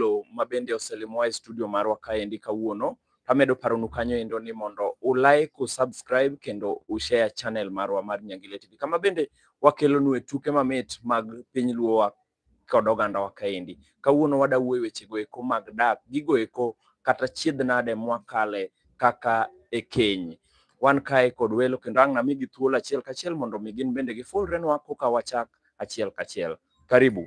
Angolo ma bende oselimowa e studio marwa kaendi kawuono. Amedo paronu kanyo endo ni mondo u like, u subscribe kendo u share channel marwa mar Nyangile TV. Kama bende wakelonu e tuke mamit mag piny Luo wa kod oganda wa kaendi. Kawuono wada wuoyo weche go eko mag dak, gigo eko kata chiedh nade mwakale kaka e keny. Wan kae kod welo kendo ang' namigi thuolo achiel kachiel mondo mi gin bende gifulrenwa koka wachak achiel kachiel. Karibu.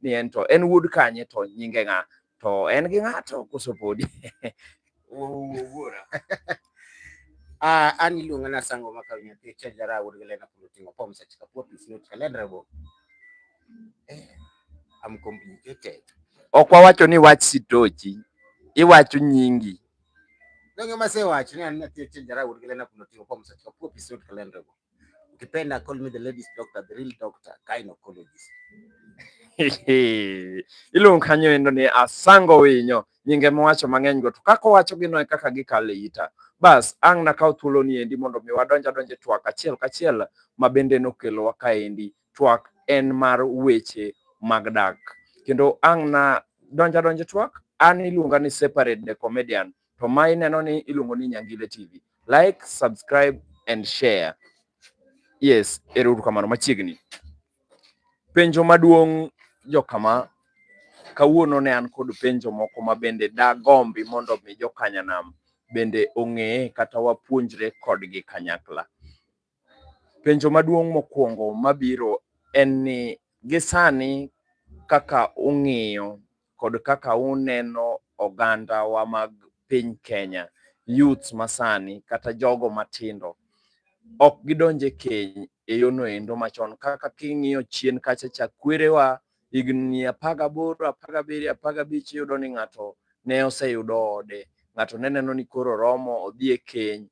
ni en to en wuod kanye to nyinge ng'a to en gi ng'ato koso podi ah, an iluonga na sango maka nyathi chajara wuod galena kulo tingo pom seche ka pop is not calendrebo eh, am complicated ok wawacho ni wach sitochi iwacho nyingi donge masewacho ni an nyathi chajara wuod galena kulo tingo pom seche ka pop is not calendrebo Ukipenda call me the ladies doctor, the real doctor, gynecologist. Iluong kanyo endo ni asango winyo nyinge mowacho mang'eny go to kaka owacho gino e kaka gikale ita. Bas ang' nakaw thuolo ni endi mondo mi wadonj adonj e twak achiel kachiel ma bende nokelowa kaendi. Twak en mar weche mag dak. Kendo ang' na donj adonj e twak an iluonga ni separate the comedian. to ma ineno ni iluongo ni Nyangile TV. Like, subscribe and share. Yes, ero uru kamano machiegni. Penjo maduong' jokama kawuono ne an kod penjo moko ma bende dagombi mondo mi jokanyanam bende ong'eye kata wapuonjre kodgi kanyakla. Penjo maduong' mokwongo mabiro en ni gisani kaka ung'iyo kod kaka uneno oganda wa mag piny Kenya, youths masani kata jogo matindo ok gidonje keny e yono endo machon kaka king'iyo chien kacha cha kwerewa higni apar gaboro apar gabiriyo apar gabich iyudo ni ng'ato ne oseyudo ode ng'ato ne neno ni koro romo odhi e keny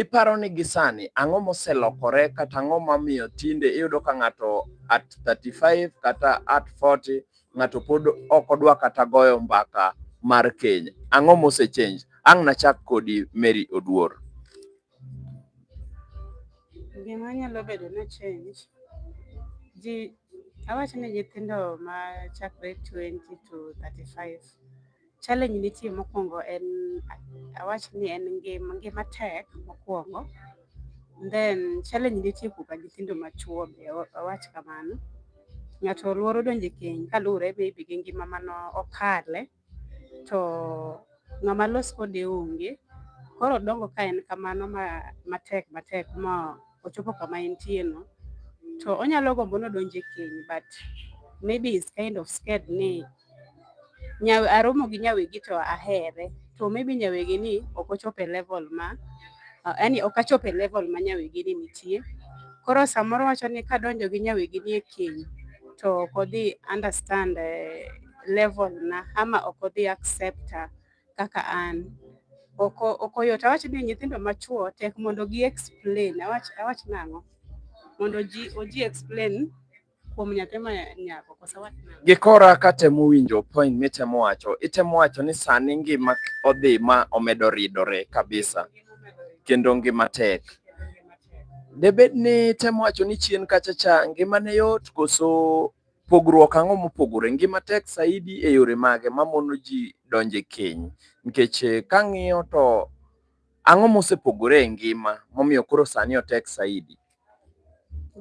Iparo ni gisani ang'o moselokore kata ang'o mamiyo tinde iyudo ka ng'ato at 35 kata at 40 ng'ato pod ok odwa kata goyo mbaka mar keny. Ang'o mosechange? Ang' nachak kodi Mary Oduor. Gima nyalo bedo ni change, ji awach ni nyithindo ma chakre 20 to 35 Challenge nitie mokwongo en awach ni en ngima ngima tek mokwongo then challenge nitie kuka nyithindo machuo be awach kamano ng'ato luoro donje keny kaluwore maybe gi ngima mano okale to ng'ama los kode onge koro dongo ka en kamano ma matek matek ma ochopo kama entie no to onyalo gombo nodonje keny but maybe is kind of scared ni nyawe aromo gi nyawegi to ahere to maybe nyawegi ni ok ochopo e level ma yani ok achopo e level ma nyawegi ni nitie koro samoro wacho ni kadonjo gi nyawegi ni e keny to ok odhi understand eh, level na ama ok odhi accept kaka an ok oyot awach ni nyithindo machuo tek mondo gi explain awach awach nang'o mondo ji oji explain kuom nyathi ma nyako kosa wach gikora katemo winjo point mitemo wacho itemo wacho ni sani ngima odhi ma omedo ridore kabisa kendo ngima tek debed ni temo wacho ni chien kacha cha ngima ne yot koso pogruok ang'o mopogore ngima tek saidi e yore mage mamono ji donje keny nikech eh, kang'iyo to ang'o mosepogore e ngima momiyo koro sani otek saidi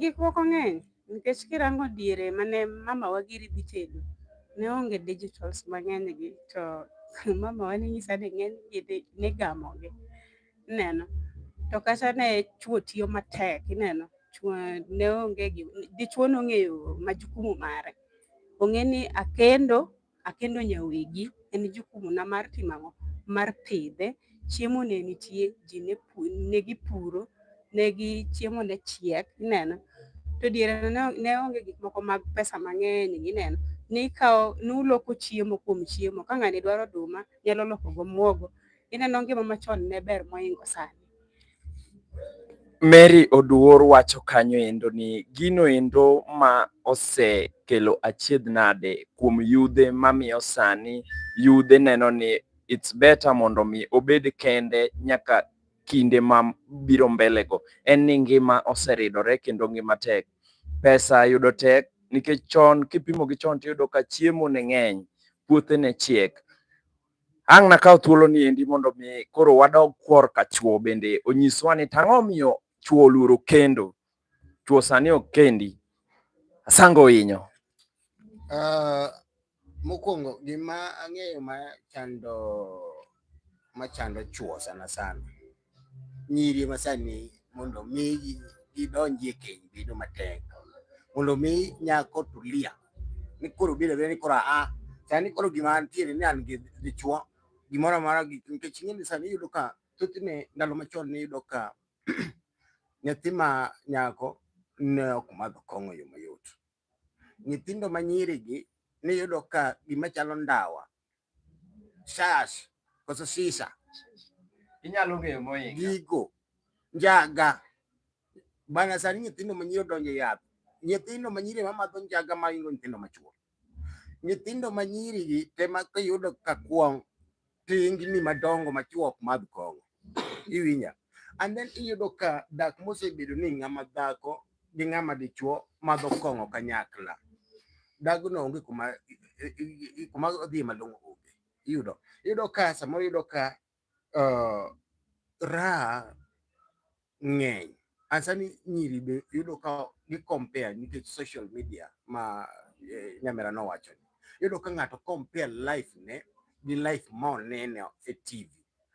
Gik moko ng'eny nikech kirango diere mane mamawa giri dhi tedo ne onge digitals mang'eny gi to mamawa ne nyisa ni ng'eny gi ne gamogi ineno to kata ne chuo tiyo matek ineno ne onge dichuo nong'eyo majukumu mare ong'e ni akendo akendo nyawegi en jukumuna mar timo ang'o mar pidhe chiemo ne nitie ji ne gipuro ne gi chiemo ne chiek ineno to diere ne onge gik moko mag pesa mang'eny ineno nikawo nuloko chiemo kuom chiemo ka ng'ani dwaro oduma nyalo loko go muogo ineno ngima machon ne ber moingo sani Mary Oduor wacho kanyo endo ni gino endo ma osekelo achiedh nade kuom yudhe mamiyo sani yudhe neno ni it's better mondo mi obed kende nyaka kinde ma biro mbele go. En ni ngima oseridore kendo ngima tek. Pesa yudo tek nikech chon kipimo gi chon tiyudo ka chiemo ne ng'eny, puothe ne chiek. Ang' nakaw thuolo ni endi mondo mi koro wadog kwor ka chwo bende onyiswa ni tang'o miyo chwo oluoro kendo. Chwo sani ok kendi. Asango inyo. Uh, ah, mokwongo gima ang'eyo ma chando ma chando chwo sana sana nyiri masani mondo mi gidonji e keny bedo matek mondo mi nyako tulia ni koro biro biro ni koro a sani koro gima antiere ni an gi dichuo gimoro amora gi nikech ing'e ni sani yudo ka thothne ndalo machon ne yudo ka nyathi ma nyako ne ok madho kong'o yo mayot nyithindo ma nyirigi niyudo ka gima chalo ndawa shash koso sisa inyalo ng'eyo moinga gigo njaga bana sani nyithindo ma nyiri odonjo yath nyithindo ma nyiri ma madho njaga ma ingo nyithindo ma chuo nyithindo ma nyiri gi te ma kiyudo ka kwong tingni madongo machuok madh kong'o iwinja and then iyudo ka dak mosebedo ni ng'ama dhako gi ng'ama dichuo madho kong'o kanyakla dagno onge kuma kuma odhi malong'o onge iyudo iyudo ka samoro iyudo ka uh, raha ng'eny asani nyiri be yudo ka gi compare nikech social media ma eh, nyamera nowacho ni yudo ka ng'ato compare life ne gi life ma oneno e TV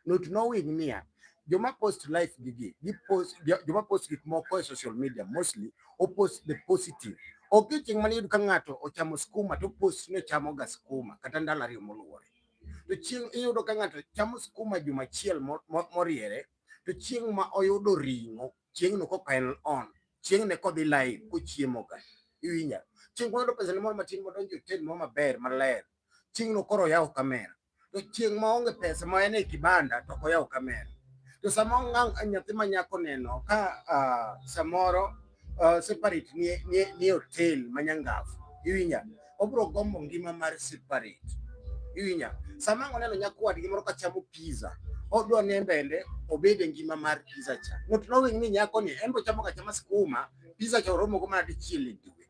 not knowing niya joma post life gi gi gi post joma post gik moko e social media mostly o post the positive ok chieng' mane yudo ka ng'ato ochamo skuma to post ni ochamo ga skuma kata ndalo ariyo moluwore to chieng' iyudo ka ng'ato chamo skuma juma achiel moriere to chieng' ma oyudo ring'o chieng'no koka en on chieng'ne kodhi live kochiemoga iwinja chieng' koyudo pesane moro matin modonjo e hotel moro maber maler chieng'no koro oyawo kamera to chieng' ma onge pesa ma en e kibanda to ok oyaw kamera to sama nyathi ma nyako neno ka uh, samoro uh, separate ni ni ni hotel manyangafu iwinya obro gombo ngima mar separate iwinya sama ngoneno nyakwa gi moro kachamo pizza odwa ne mbende obed e ngima mar pizza cha not knowing ni nyako ni embo chamo kachama skuma pizza cha oromo go mana dichiel e dwe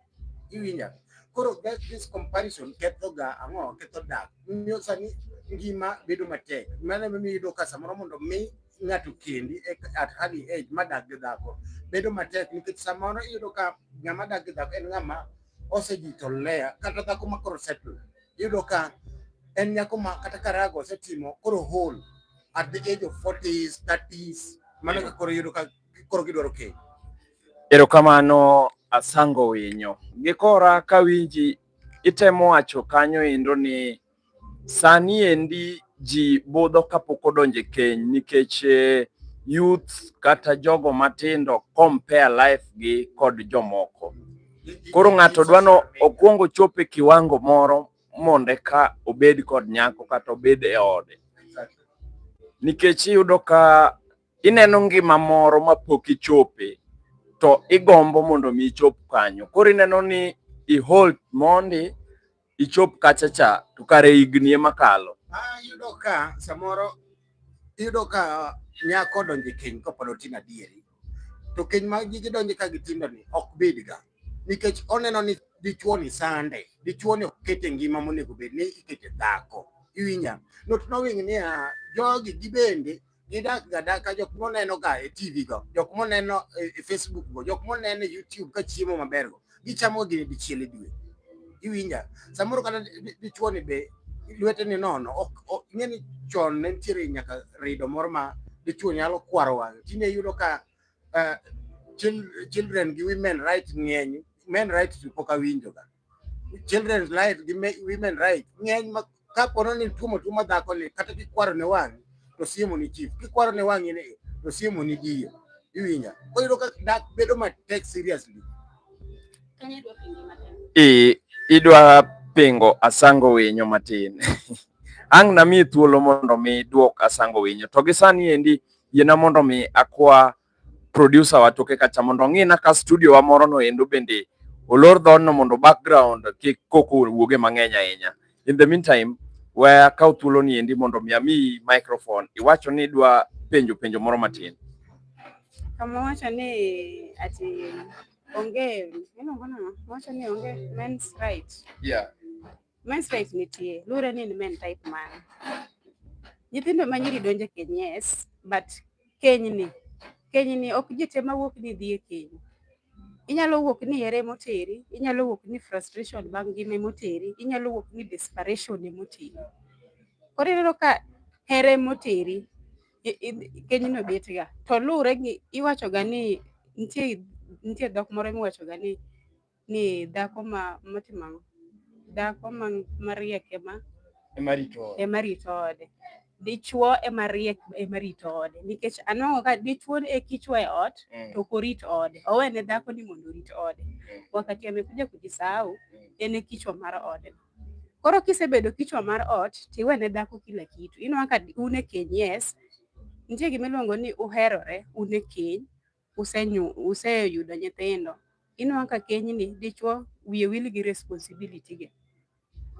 iwinya koro that this comparison ketho ga ang'o ketho dak miyo sani ngima bedo matek mano miyo yudo ka samoro mondo mi ng'ato kendi e, at early age madak gi dhako bedo matek nikech samoro iyudo ka ng'ama dak gi dhako en ng'ama osejito lea kata dhako ma koro settle iyudo ka en nyako ma kata karago osetimo koro hol at the age of 40s 30s mano ka koro iyudo ka koro gidwaro keny erokamano asango winyo gikora kawinji itemo wacho kanyo endo ni Sani endi ji budho kapok odonje keny nikech eh, youth kata jogo matindo compare life gi kod jomoko. Koro ng'ato dwano okwongo chope kiwango moro mondo eka obed kod nyako kata obed e ode. Nikech iyudo ka ineno ngima moro ma pok ichope to igombo mondo mi ichop kanyo. Koro ineno ni i hold mondi ichop kacha cha to kare higni ema kalo. Ah, yudo ka samoro yudo ka nyako donje keny kopod otin adieri to keny ma gidonje ka gitindo ni ok bidga nikech oneno ni dichuo ni sande dichuo ni okete ngima monego bed ni ikete dhako iwinja not knowing ni ah, jogi gibende gidak ga daka jok moneno ga e TV go jok moneno e Facebook go jok moneno e YouTube ka chiemo maber go gichamo gi dichiel e dwe iwinja samoro kata dichuo ni be lwete ni nono ok ing'e ni chon ne nitiere nyaka rido moro ma dichuo nyalo kwaro wang'e tinde yudo ka eh, children gi women right ng'eny men right pok awinjo ga children's right gi women right ng'eny ma ka pono ni tuomo tuo ma dhako ni kata kikwaro ne wang' to siemo ni chief kikwaro ne wang' ni to siemo ni diyo iwinja oyudo ka dak bedo matek seriously i idwa pingo asango winyo matin ang' nami thuolo mondo mi duok asango winyo to gi sani endi yiena mondo mi akwa producer wa toke kacha mondo ong'ina ka studio wa moro no endo bende olor dhono mondo background kik koko wuoge mang'eny ahinya. In the meantime, we akaw thuolo ni endi mondo mi ami microphone iwacho ni idwa penjo penjo moro matin. Kama wacho ni ati onge, iluongo nang'o? Wacho ni onge men's right. Yeah. Men's type nitie. Lure ni ni men type man. Nyithindo ma nyiri donje keny yes, but keny ni. Keny ni ok jite ma wuok ni dhie keny. Inyalo wuok ni here moteri, inyalo wuok ni frustration bang' ngime moteri, inyalo wuok ni desperation moteri. Koro ineno ka here moteri, keny no bet ga. To lure gi iwacho ga ni nitie nitie dhok moro miwacho ga ni ni dhako ma motimo ang'o? Dhako ma mariek ema Ema rito ode. ema rito ode. Dichwo ema riek ema rito ode nikech anwang'o ka dichwo e kichwa e ot Mm. to ok orit ode. Owene dhako ni mondo orit ode. Wakati amekuja kujisahau Mm. en e kichwa mar ode. Koro kisebedo kichwa mar ot tiwene dhako kila kitu. Inwang'o ka un e keny yes, nitie gima iluongo ni uherore un e keny useyudo nyithindo, inwang'o ka kenyni dichwo wiye wil gi responsibility ge.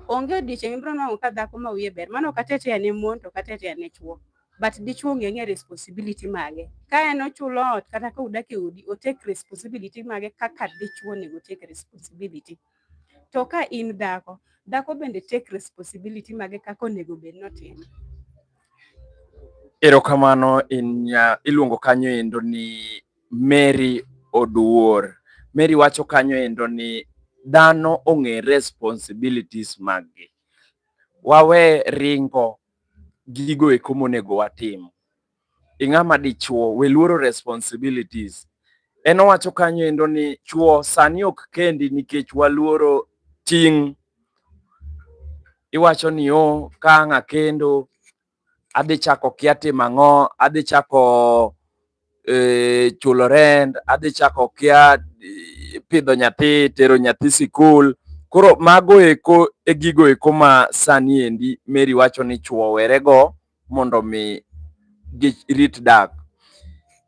Onge odiechieng' ibiro nwang'o ka dhako ma wiye ber, mano ok atete ane mon to ok atete ane chwo. But dichwo onge ang'e responsibility mage. Ka en ochulo ot kata ka udak e udi, o take responsibility mage kaka dichwo onego take responsibility. To ka in dhako, dhako bende take responsibility mage kaka onego bed ni otimo. Erokamano in nya, iluongo kanyo endo ni Mary Oduor. Mary wacho kanyo endo ni dhano ong'e responsibilities maggi. Wawe ringo gigo eko monego watim. Ing'ama dichuo, we luoro responsibilities. En owacho kanyo endo ni chuo sani ok kendi nikech waluoro ting'. iwacho ni o oh, ka ang' akendo adhi chako kia timo ang'o, adhi chako e, chulo rent, adhi chako kia e, pidho nyathi, tero nyathi sikul. Koro mago eko e gigo eko ma sani endi Mary wacho ni chwo werego mondo mi girit dak.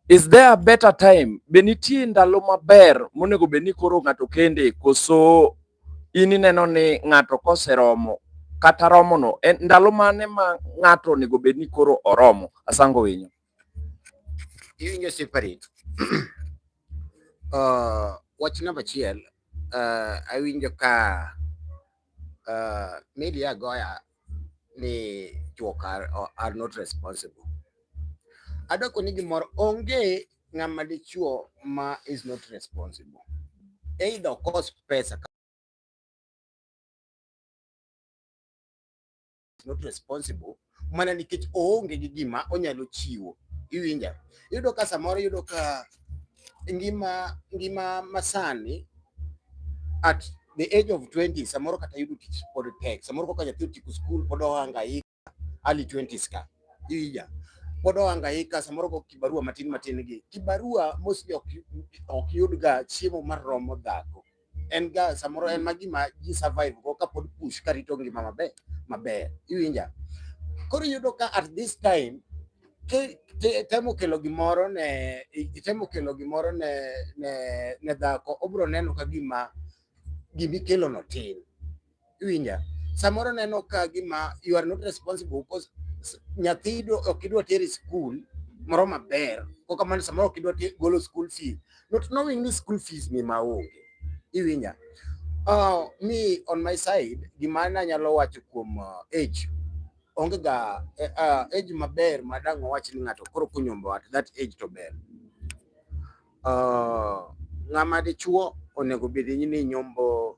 Is there a better time? Be nitie ndalo maber monego bed ni koro ng'ato kende koso in ineno ni ng'ato koseromo kata romono en ndalo mane ma ng'ato onego bed ni koro oromo? Asango winyo. Iwinjo sipari. Uh, wach namba achiel uh, awinjo ka uh, media goya ni juok are, are not responsible. Adoko ni gimoro onge ng'ama dichuo ma is not responsible. Either okos pesa is not responsible mana nikech oonge gi gima onyalo chiwo. Iwinja? Iyudo ka samoro iyudo ka ngima ngima masani at the age of 20 samoro kata yudo tich pod tek. Samoro kaka nyathi otieko skul pod ohangaika early 20s ka. Iwinja? Pod ohangaika samoro go kibarua matin matin gi. Kibarua mostly ok yudga chiemo maromo dhako. en ga samoro en ma gima ji survive go kapod push karito ngima maber maber iwinja koro iyudo ka at this time ke- te- temo kelo gimoro ne i- temo kelo gimoro ne ne ne dhako obro neno ka gima gimikelono tin Iwinja? Samoro neno ka gima you are not responsible because nyathi ok idwa teri school moro maber ko kamano samoro ok idwa golo school fees not knowing ni school fees ni maonge iwinja uh, me on my side gima nanyalo wacho kuom uh, age onge ga uh, age maber madang' wawach ni ng'ato koro kunyombo at that age to ber uh, ng'ama dichuo onego bed ni nyombo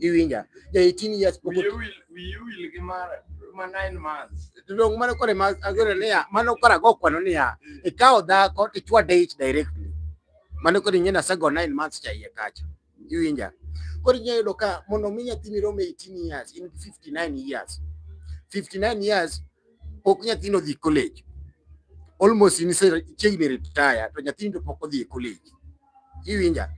iwinja ja 18 years pok Wiye wil wiye wil gi mar ma nine months. dong mano kore ma agore niya mano kora go kwano niya ikawo dhako tichwade ich directly mano kore nyina sago 9 months cha iye kacha iwinja kore nyaya yudo ka mondo mi nyathini rome 18 years in 59 years 59 years pok nyathino dhi college almost in chiegni retire to nyathini to pok odhi e college iwinja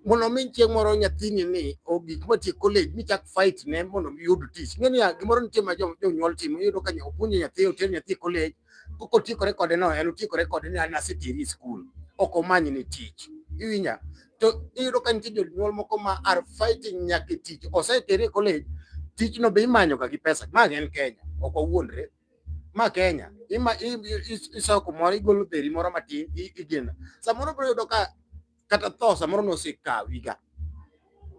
mondo mi chieng' moro nyathini ni ogik matie college michak fight ne mondo miyud tich ng'e niya gimoro nitie ma jonyuol timo iyudo ka opuonjo nyathi oter nyathi college kok otiekore kode no en otiekore kode ni an aseteri e skul ok omany ni tich iwinja to iyudo ka nitie jonyuol moko ma are fighting nyaka e tich osetere e college tijno be imanyoga gi pesa ma en Kenya ok wawuondre ma Kenya ima iso kumoro igolo dheri moro matin igeno samoro biro yudo ka kata tho samoro nosekawiga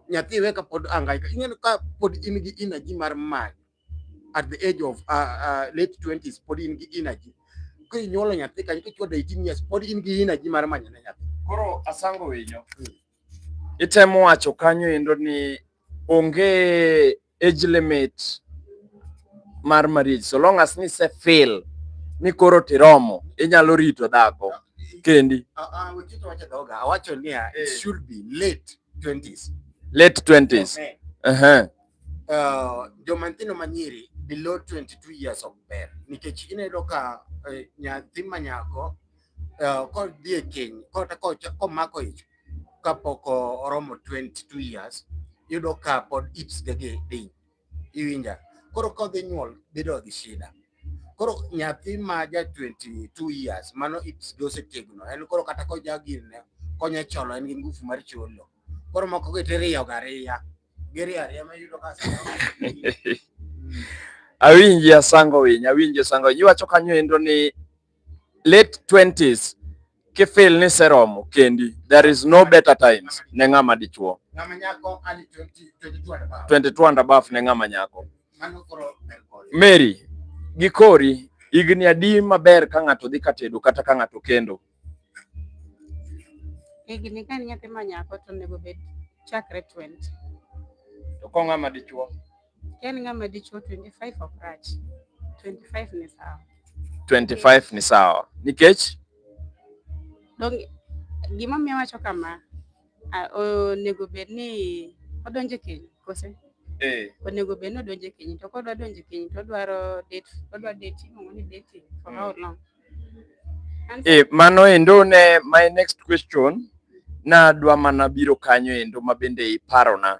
nyathi iwe ka pod angaika ing'eyo ka pod in gi energy mar manyo at the age of uh, uh, late 20s pod in gi energy ka inyuolo nyathi kanyo kichwado 18 years pod in gi energy mar manyo ne nyathi koro asango winyo hmm. itemo wacho kanyo endo ni onge age limit mar marriage so long as ni se feel ni koro tiromo inyalo rito dhako kendi awacho niya it eh. should be late 20s late 20s okay. uh -huh. uh, joma nyithindo manyiri below 22 years of ber nikech ineno ka uh, nyathi manyako uh, kodhi e keny kata komako ich kapok oromo 22 years yudo ka pod ips ge gi ding iwinja koro kodhi nyuol bedo gi shida koro nyathi ma ja 22 years mano ips gi osetegno en koro kata koja gir ne konye cholo en gi ngufu mar cholo koro moko gi tiriyo gariya giriya ariya ma yudo ka awinji asango winy awinji asango winy iwacho kanyo endo ni late 20s kifil ni seromo kendi, there is no better times ne ng'ama dichuo. 22 and above ne ng'ama nyako. Mary, gikori higni adi maber ka ng'ato dhi katedo kata ka ng'ato kendo? Higni ka nyathi ma nyako to onego bed chakre 20. To ko ng'ama dichuo? Yaani ng'ama dichuo 25 ok rach. 25 ni sawa. 25 ni sawa. Nikech Dong gima miyo wacho kama onego bed ni odonje keny kose? Eh. Onego bed ni odonje keny to kodwa donje keny to odwaro date, odwa dating, ong'o ni dating for how hmm. long? Eh, mano endo ne my next question nadwa mana biro kanyo endo mabende iparona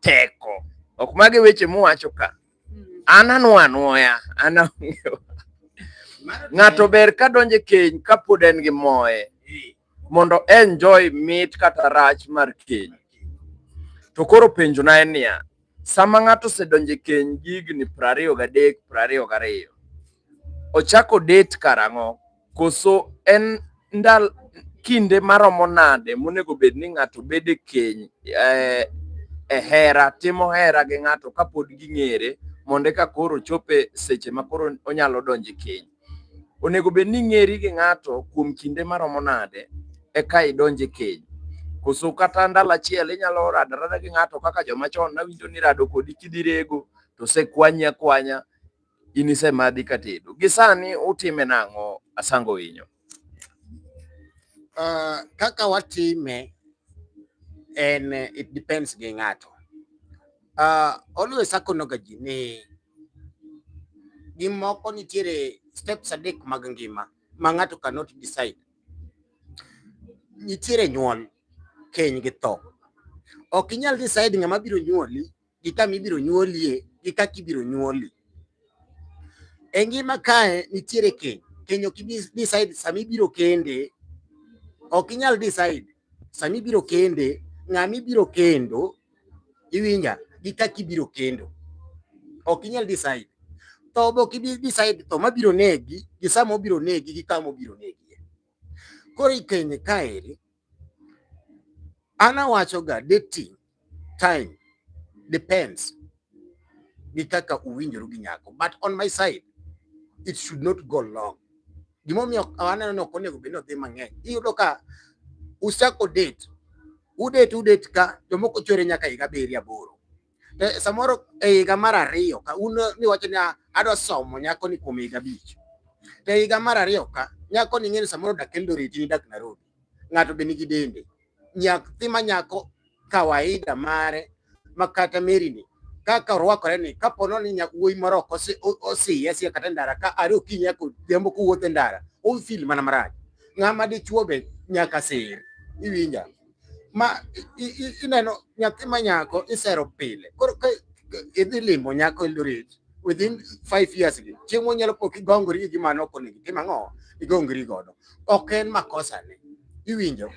teko. Ok mage weche muwacho ka. Hmm. An anwa anwoya, an ang'eyo. Ng'ato ber ka donje keny kapod en gi moye mondo enjoy mit kata rach mar keny. To koro penjo na en niya, sama ng'ato osedonje keny gigni prariyo gadek, prariyo gariyo, ochako date karang'o? Koso en ndal kinde maromo nade monego bed ni ng'ato bedo e keny eh, e hera timo hera gi ng'ato kapod ging'ere mondo eka koro chope seche ma koro onyalo donjo e keny. Onego bed ni ing'eri gi ng'ato kuom kinde maromo nade eka idonjo e keny. Koso kata ndalo achiel inyalo rado arada gi ng'ato kaka joma chon nawinjo ni rado kodi kidhi rego to osekwanyi akwanya In isemadhi katedo. Gisani utime nang'o Asango Winyo? Uh, kaka watime en it depends gi ng'ato. Uh, always akonoga ji ni gimoko nitiere steps adek mag ngima ma ng'ato cannot decide. Nitiere nyuol, keny gi tho. Ok inyal decide ng'ama biro nyuoli gi kama ibiro nyuolie gi kaka ibiro nyuoli. E ngima kae nitiere keny, keny ok ibi decide sama ibiro kende, ok inyal decide sama ibiro kende, ng'ama ibiro kendo, iwinja, gi kaka ibiro kendo. Ok inyal decide. Tho be ok ibi decide tho mabiro negi gi sama obiro negi gi kama obiro negi. Koro ikenye kaeri an awachoga dating time depends gi kaka uwinjoru gi nyako but on my side it should not go long gimomiyo aneno ni ok onego bed ni odhi mang'eny iyudo ka usako date udate udate ka jomoko chwere nyaka higa abiriyo aboro Eh, samoro e higa mar ariyo ka un niwacho ni ah, adwa somo nyako ni kuom higa abich to e higa mar ariyo ka nyako ni ng'eni samoro dak Eldoret ni dak Nairobi ng'ato be nigi dende nyathi ma nyako kawaida mare ma kata Mary ni kaka orwakore ni kapo nono ni wuoyi moro ok osiye siya kata e ndara ka are okinyi nyaka odhiambo kowuotho e ndara ofil mana marach ng'ama dichuo be nyaka sir iwinja ma ineno nyathi ma nyako isero pile koro idhi limo nyako Eldoret within five years gi chieng' monyalo pok igongori gi gima noko nigi tim ang'o igongri godo ok en makosa ne iwinjo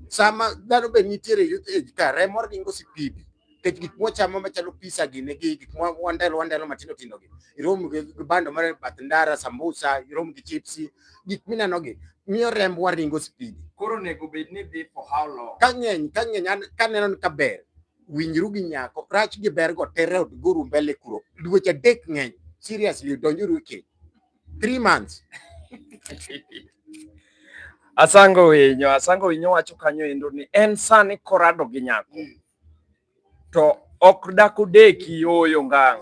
sama dhano be nitiere youth age ka remo ringo sipidi nikech gik mwachamo machalo pizza gini gi gik mwandelo wandelo matindo tindo gi irom gi bando mar bath ndara sambusa irom gi chips gik mineno gi miyo rembwa ringo speed koro nego bed ni dhi for how long ka ng'eny ka ng'eny ka neno ni ka ber winjru gi nyako rach gi ber go tere od guru mbele kuro dweche adek ng'eny seriously donjuru e keny 3 months Asango winyo, Asango winyo wacho kanyo endo ni en sani korado gi nyako. Mm. To ok dako deki yoyo ngang.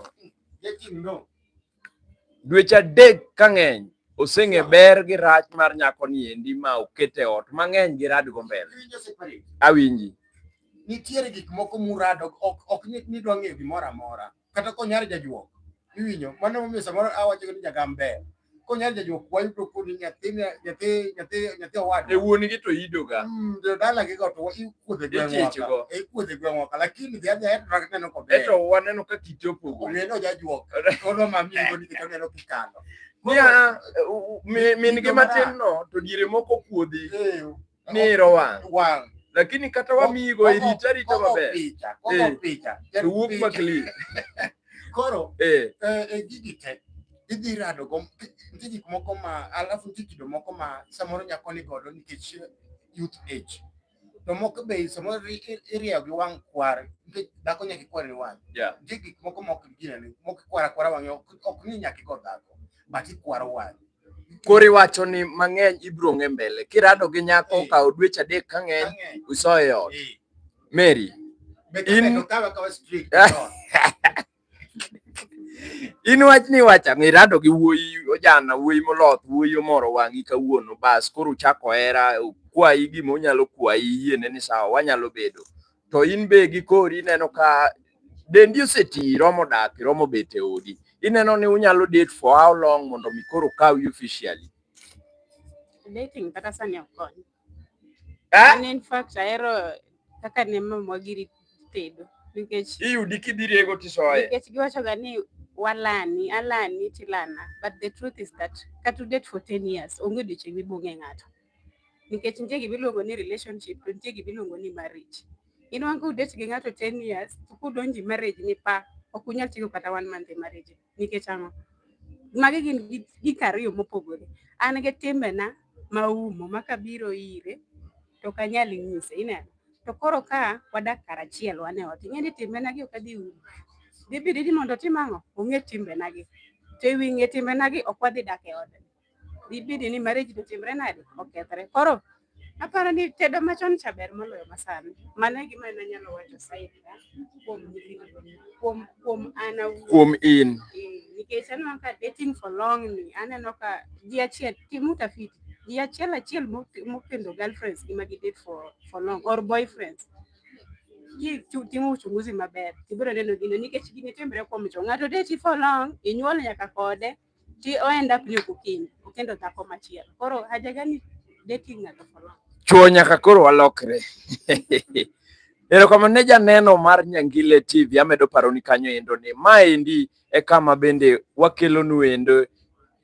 Dweche adek ka ng'eny oseng'e ber gi rach mar nyako ni endi ma okete ot mang'eny gi rad go mbele. Awinji. Nitiere gik moko murado ok ni dwa ng'eyo gimoro amora. kata konyar jajuok iwinyo mano momiyo samoro awacho ni jagam ber konyar jajuok wayudo kod nyathi nyathi nyathi nyathi owad e wuon gi to ido ga mm de dala gi go to ikuodhe gwengwa go e ikuodhe gwengwa ka lakini dia dia eto rakne no kobe eto waneno ka kiti opogo ne no jajuok ono mami ngo ni kito neno kikalo ya min gi matin no to dire moko kuodhi niro wang' wang' lakini kata wamigo irita rita maber picha kogo eh. picha to wuok ma clean koro eh. eh, eh gigi te idhi rado go nitie gik moko ma alafu nitie kido moko ma samoro nyako ni godo nikech youth age to moko be samoro irieyo gi wang' kwar nikech dhako nyaka ikwar ni wang' nitie gik moko ma ok ginene moko ikwara kwara wang'e ok ni nyaka igo dhako but ikwaro wang'e Koro iwacho ni mang'eny ibiro ng'e mbele. Kirado gi nyako eh. okawo dweche adek ka ng'eny uso e ot. Eh. Mary. In in wach ni wacha mirado gi wuoyi ojana wuoyi moloth wuoyi omoro wang'i kawuono bas koro uchako hera kwayi gima onyalo kwayi yiene ni sawa wanyalo bedo to in be gi kori ineno ka dendi oseti romo dak romo bet e odi ineno ni unyalo date for how long mondo mi koro kawi officially dating kata sani ok kony eh? an in fact ahero kaka ne mamwa giri tedo nikech iyudi kidhi rego tisoye nikech giwachoga ni walani alani tilana but the truth is that kata udate for 10 years onge odiochieng' mibung'e ng'ato nikech nitie gima iluongo ni relationship to nitie gima iluongo ni marriage. Inwang' ka udate gi ng'ato 10 years to kudonji marriage ni pa ok unyal tieko kata one month e marriage nikech ang'o? Magi gin gik ariyo mopogore. An gi timbena ma umo ma kabiro ire to ok anyal nyise ineno. To koro ka wadak kar achiel wan e ot ing'e ni timbenagi ok adhi umo. Dhi bidi ni mondo otim ang'o? Ong'e timbenagi. To e wi ng'e timbenagi ok wadhi dak e odni. dibedi ni marriage notimre nade okethre koro aparo ni tedo machon cha ber moloyo masani mano e gima nanyalo wacho saidi kuom kuom kuom an kuom in nikech aneno ka dating for long ni aneno ka ji achiel tim utafiti ji achiel achiel mokendo girlfriends gi ma gi date for for long or boyfriends timo uchunguzi maber tibiro neno gino nikech gini timre kuom jo ng'ato deti for long inyuol nyaka kode Ti oenda piny ok okinyi, okendo dhako machielo. Koro haja gani dating ng'ato for long? Chuo nyaka koro walokre. Erokamano ne janeno mar Nyangile TV, amedo paroni kanyo endo ni maendi e kama bende wakelonu endo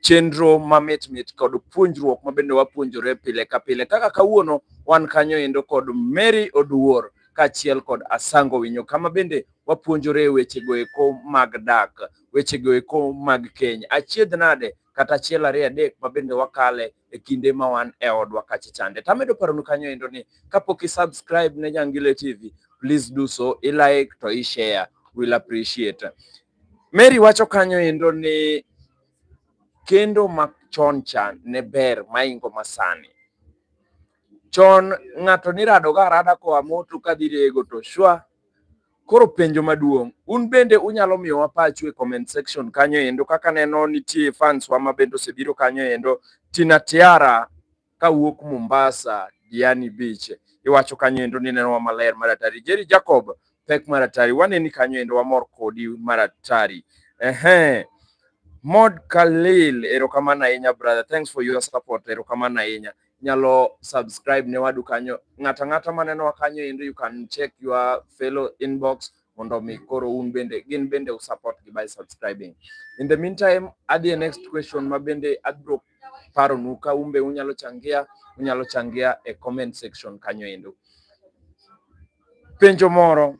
chenro mamit mit kod puonjruok ma bende wapuonjore pile ka pile. Kaka kawuono wan kanyo endo kod Mary Oduor kaachiel kod Asango Winyo kama bende wapuonjore wechego eko mag dak. wechego eko mag keny. Achiedh nade kata achiel ariyo adek ma bende wakale e kinde ma wan e odwa kacha chande. To amedo paronu kanyo endo ni kapok i subscribe ne Jangile TV, please do so, i like to i share, will appreciate. Mary wacho kanyo endo ni kendo ma chon cha ne ber maingo masani. Chon ng'ato niradoga arada koa moto kadhi rego to shwa Koro penjo maduong', un bende unyalo miyowa pachu e comment section kanyo endo. Kaka neno nitie fans wa ma bende osebiro kanyo endo, Tina Tiara kawuok Mombasa, Diani Beach, iwacho kanyo endo ni nenowa maler maratari. Jerry Jacob pek maratari, waneni kanyo endo, wamor kodi maratari. Ehe. Mod Khalil, erokamano ahinya brother, thanks for your support, erokamano ahinya. nyalo subscribe ne wadu kanyo. Ng'ata ng'ata manenowa kanyo endo you can check your fellow inbox mondo mi koro un bende gin bende usupport gi by subscribing. In the meantime, adhi e next question ma bende abro paronu ka un be unyalo changia, unyalo changia e comment section kanyo endo. Penjo moro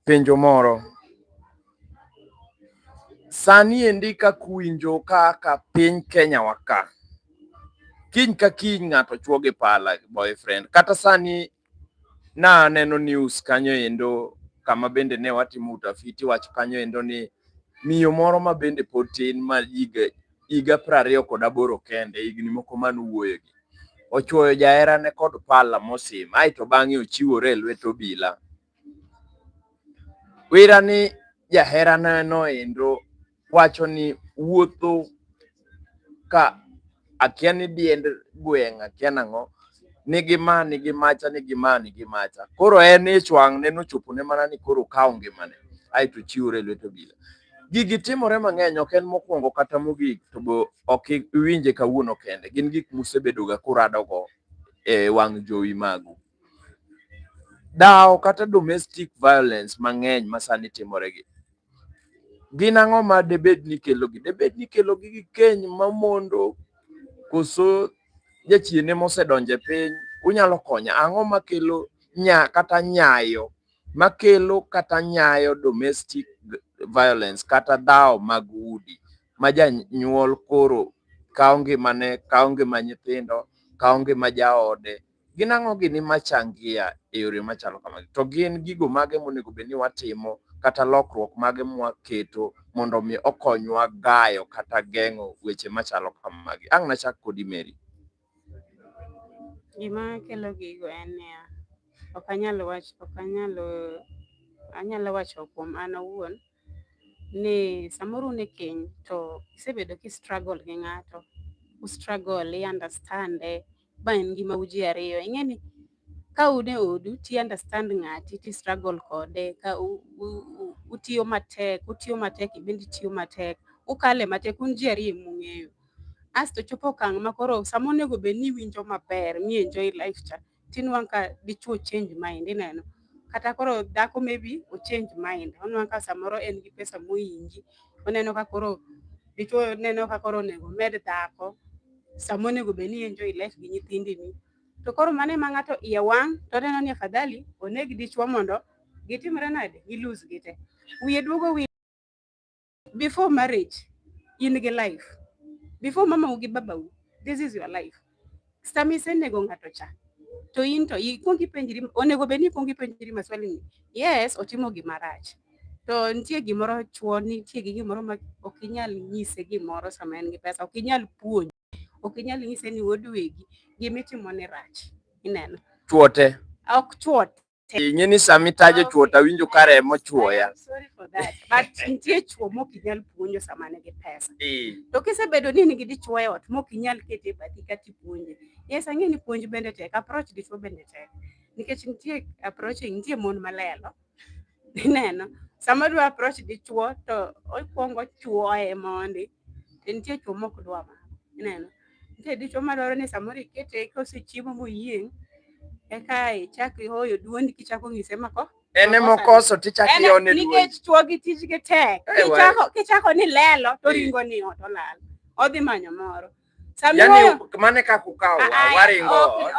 penjo moro. Sani endi kaka uwinjo kaka piny Kenya waka, kiny ka kiny ng'ato chuo gi pala boyfriend. Kata sani naneno news kanyo endo kama bende ne watimo utafiti wach kanyo endo ni miyo moro ma bende pod tin ma higa piero ariyo kod aboro kende, higni moko man wuoyogi. Ochuoyo jaherane kod pala mosim, ae to bang'e ochiwore e lwet obila. Wira ni jaherane noendo wacho ni wuotho ka akia ni diend gweng' akia nang'o, nigi ma nigi macha nigi ma nigi macha. Koro en ich wang' ne nochopone mana ni koro okawo ngimane ae to ochiwore e lwet obila. Gigi timore mang'eny, ok en mokwongo kata mogik, to be ok iwinje kawuono kende. Gin gik musebedoga kuradogo e wang' jowi magu. Dhawo kata domestic violence mang'eny ma sani timoregi, gin ang'o ma debed ni kelogi? Debed ni kelogi gi keny mamondo, koso jachiende mosedonjo e piny? Unyalo konya, ang'o makelo nya kata nyayo makelo kata nyayo domestic violence kata dhawo mag udi ma janyuol koro kawo ngimane, kawo ngima nyithindo, kawo ngima jaode. Gin ang'o gini machangia e yore machalo kamagi? To gin gigo mage monego bed ni watimo kata lokruok mage mwaketo mondo mi okonywa gayo kata geng'o weche machalo kamagi? Ang' nachak kodi Mary. Gima kelo gigo en niya, ok anyal wacho ok anyal anyalo wacho kuom an awuon ni samoro un e keny to isebedo ki struggle gi ng'ato, u struggle i understand e ba en ngimau ji ariyo. Ing'eni ka un e odu ti understand ng'ati ti struggle kode ka utiyo matek utiyo matek ibende itiyo matek ukale matek un ji ariyo mung'eyo asto chopo okang' ma koro sama onego bed ni iwinjo maber mi enjoy life cha tinwang' ka dichuo change mind ineno kata koro dhako maybe ochange mind onwang' ka samoro en gi pesa moyingi oneno ka koro dichuo neno ka koro onego med dhako sama onego bed ni enjoy life gi nyithindini To koro mane ma ng'ato iye wang' to neno ni afadhali oneg dichwo mondo gitimre nade gilus gite. Wiye duogo wi before marriage in gi life. Before mamau gi babau this is your life. Sama isenego ng'ato cha to in to ikwong ipenjri onego bed ni ikwong ipenjri maswali ni yes otimo gima rach to nitie gimoro chwo nitie gi gimoro ma ok inyal nyise gimoro sama en gi pesa ok inyal puonj ok inyal nyise ni wuod wegi gima itimo ni rach ineno chuote ok chuote ing'e ni sama itajo chuota winjo ka remo chuoya nitie chuo mok inyal puonjo sama nigi pesa to kisebedo ni nigi dichuo e ot mok inyal kete e bathi kata ipuonje yes ang'e ni puonj bende tek approach dichuo bende tek nikech nitie approach nitie mon malelo Ineno, sama dwa approach dichuo to okwongo chuoye mondi. To nitie chuo mok dwa ma. Ineno, nitie dichuo madwaro ni samoro ikete kosechiemo moyieng' eka ichak ihoyo duondi kichako ng'ise mako en ema okoso tichak ione duondi. Nikech chuo gi tijgi tek. Kichako ni lelo to ringo ni ot olal. Odhi manyo moro. yani mane kaka ukawo awari ngo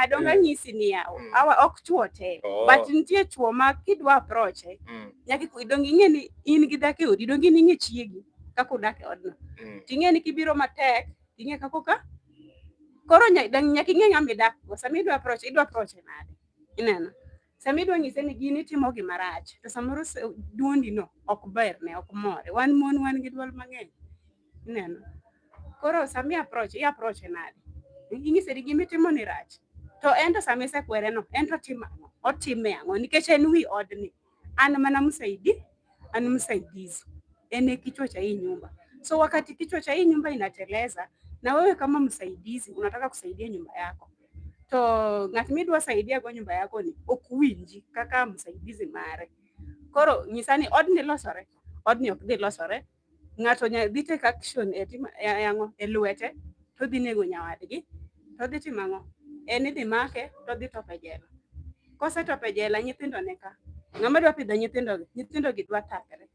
a donge mm. anyisi ni yawo mm. awa ok chwo te oh. but nitie chwo ma kidwa approach eh, mm. nyaka donge ing'e ni in gi dhako e odi donge in ing'e chiegi kaka udak e odno ting'e ni kibiro matek ting'e kaka ka koro nyaka ing'e ng'ama idakgo sama idwa approach idwa approach e nade ineno Sama idwa nyise ni gini timo gima rach, to samoro duondi no ok ber ne ok more. Wan mon wan gi dwol mang'eny. Ineno? Koro sami approach, i approach nade? Inyise ni gimi timo ni rach. To en to sami sekwere no, en to timo ang'o? Otime ang'o? Nikech en wi odni. An mana msaidi ani msaidizi ene kichwa cha hii nyumba. So wakati kichwa cha hii nyumba inateleza, na wewe kama msaidizi unataka kusaidia nyumba yako to ng'at midwa saidia go nyumba yako ni ok winji kaka msaidizi mare. Koro nyisa ni odni losore, odni ok dhi losore ng'ato nya dhi take action e timo e ang'o e lwete to dhi nego nyawadgi to dhi timo ang'o en idhi make to dhi tope jela kosetope jela nyithindo ne ka ng'ama dwa pidho nyithindo gi nyithindo gi dwa takre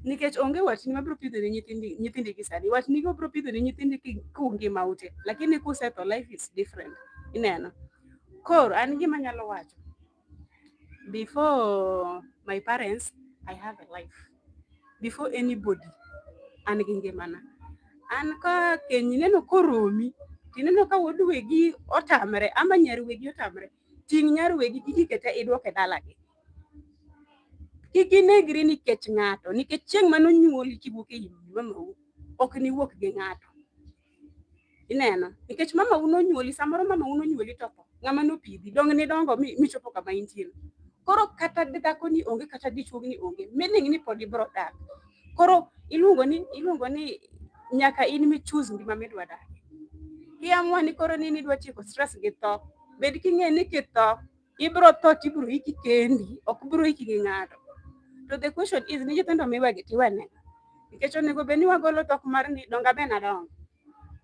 nikech onge watni mabiro pidho ne nyithindi nyithindi gi sani watni go biro pidho ne nyithindi ki kungi maute lakini kusetho life is different ineno koro an gima nyalo wacho Before my parents, I have a life. Before anybody, an gi ngimana. An ka keny ineno koromi, tineno ka wuod wegi otamre ama nyar wegi otamre, ting' nyar wegi kik ikete idwoke dalagi. Kik inegri nikech ng'ato, nikech chieng' mane onyuoli kiwuok e i mamawu, ok niwuok gi ng'ato. ineno nikech mama uno nyuoli samoro mama uno nyuoli to ng'ama nopidhi dong ni dongo michopo kama intieno koro kata dhako ni onge kata dichuog ni onge meaning ni pod ibro dak koro iluongo ni iluongo ni nyaka in mi choose ngima midwa dak iamua ni koro ni nidwa tieko stress gi tho bed king'e ni kitho ibro tho to ibro iki kendi ok bro iki gi ng'ato to the question is ni nyithindo miwegi tiwene nikech onego bed ni wagolo tok mar ni donga ben adonga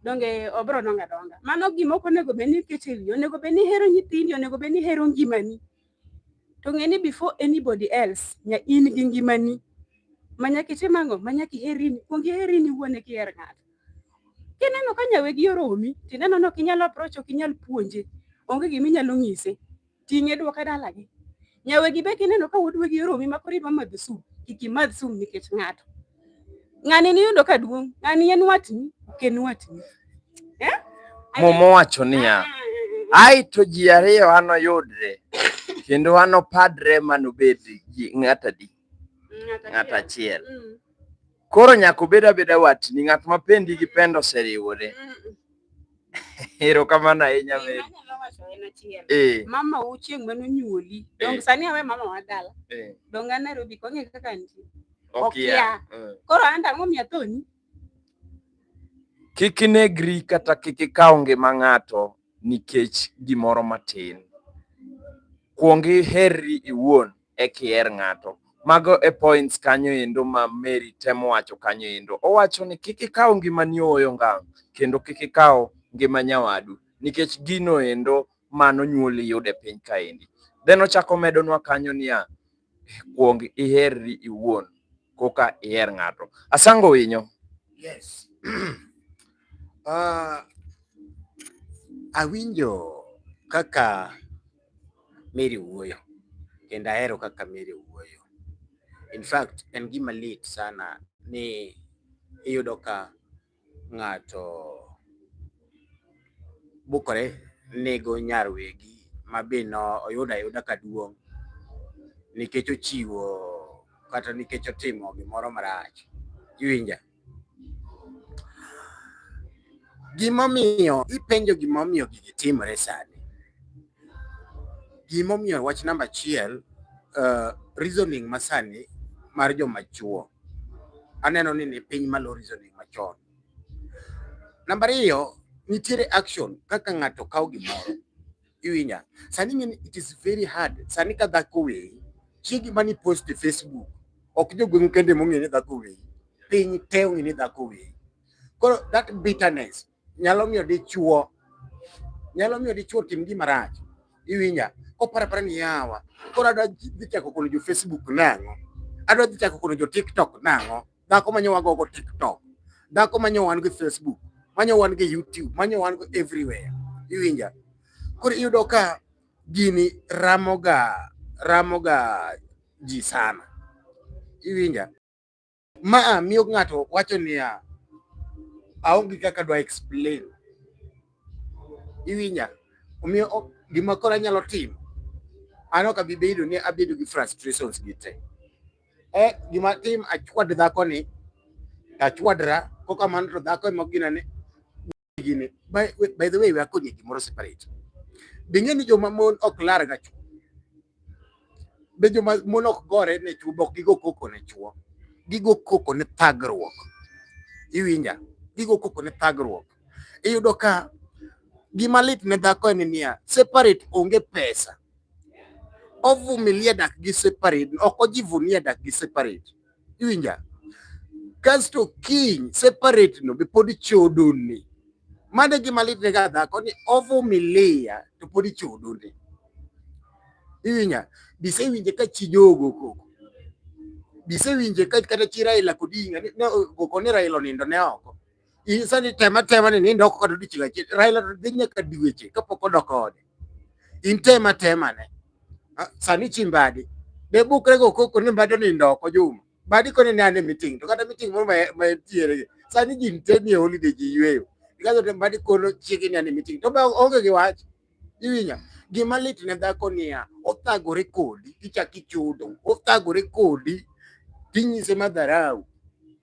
donge obro donga donga mano gima ok onego bed ni iketo e wiyi onego bed ni ihero nyithindi onego bed ni ihero ngimani to ng'e ni before anybody else nya in gi ngimani ma nyaka itim ang'o ma nyaka iherini kuong iherini wuon eki iher ng'ato Kineno ka nyawegi oromi, tineno ni ok inyal approach, ok inyal puonje, onge gima inyalo nyise, ting'e dwoke dalagi. Nyawegi be kineno ka wuod wegi oromi ma koro idwa madho sum, kik imadh sum nikech ng'ato. Ng'ani niyudo ka duong', ng'ani en watni, ok en watni. Eh? Muma owacho niya, ah, ah, ah, ai to ji ariyo anoyudre kendo anopadre manobed ng'at adi? Ng'at achiel. Mm. Koro nyaka obed abeda watni, ng'at ma pendi gi pendo oseriwore. Erokamano ahinya Mary. Anyalo wacho en achiel. Eh, Mama u chieng' mane onyuoli. Eh. Dong sani awe mama wa dala. eh, Dong an Nairobi kong'e kaka nitie. okia. Okia. Eh. Koro an ang'o miya thoni? Kik inegri kata kik ikaw ngima ng'ato nikech gimoro matin. Kuong iherri iwuon e kiher ng'ato. Mago e points kanyo endo ma Mary temo wacho kanyo endo. Owacho ni kik ikaw ngimani ooyo ngang' kendo kik ikaw ngima nyawadu nikech gino endo mano nyuoli yude piny kaendi. Then ochako omedonwa kanyo niya, Kuong iherri iwuon koka iher ng'ato. Asango winyo. Yes. uh, awinjo kaka Mary wuoyo kendo ahero kaka Mary wuoyo. In fact, en gima lit sana ni iyudo ka ng'ato bukore nego nyar wegi ma be no oyudo ayuda ka duong' nikech ochiwo kata nikech otimo gimoro marach. Iwinja? Gimomiyo ipenjo gimomiyo gigi timore sani, Gimomiyo wach namba achiel uh, reasoning masani mar joma chuo aneno ni ni piny malo reasoning machon. Namba ariyo nitiere action kaka ng'ato kawo gimoro iwinya sani ng'eni it is very hard sani ka dhako weyi chiegi mani post e Facebook ok jogweng'u kende mong'e ni dhako weyi piny te ong'e ni dhako weyi koro that bitterness nyalo miyo dichuo nyalo miyo dichuo tim gima rach iwinja kopara para ni yawa koro adwa dhi chako kono jo Facebook nang'o adwa dhi chako kono jo TikTok nang'o dhako manyo wago go TikTok dhako manyo wan go Facebook manyo wan go YouTube manyo wan go everywhere iwinja koro iyudo ka gini ramoga ramoga ji sana iwinja Ma a miyo ng'ato wacho niya, aonge kaka dwa explain. Iwinja? Omiyo gima koro anyalo timo, an ok abi bedo ni abedo gi frustrations gi te. E, gima tim achwad dhakoni, achwadra, kokamano to dhako ema ginane gini by, by the way we are going to more separate dinge ni joma mon ok lar ga chuo be joma mon ok gore ne chuo bok gigo koko ne chuo gigo koko ne thagruok iwinja gigo koko ne thagruok iyudo ka gima lit ne dhako en niya separate onge pesa ovumilie dak gi separate ok ojivunie dak gi separate Iwinja? Kasto kiny separate no be pod chodoni. Mano e gima litne ga dhako ni ovumilia to pod ichodoni. Iwinja? Bisewinje ka chi jogo koko. Bisewinje ka kata chi Raila Odinga ni no koko ni Raila onindo ne oko. Insa ni tema tema ni nindo ko kadu dichiga chi Raila to dinya ka diweche ka poko dokode. In tema tema ne. Sani chimbadi. De bukre go koko ni mbado ni ndoko juma. Badi kone ni ane meeting. To kata meeting mo ma ma tiere. Sani jin teni holiday ji yweyo. Ikazo tembadi kono chiki ni ane meeting. To ba onge gi wach. Iwinja? Gima lit ne dhako niya, othagore kodi tichak ichudo, othagore kodi tinyise madharau.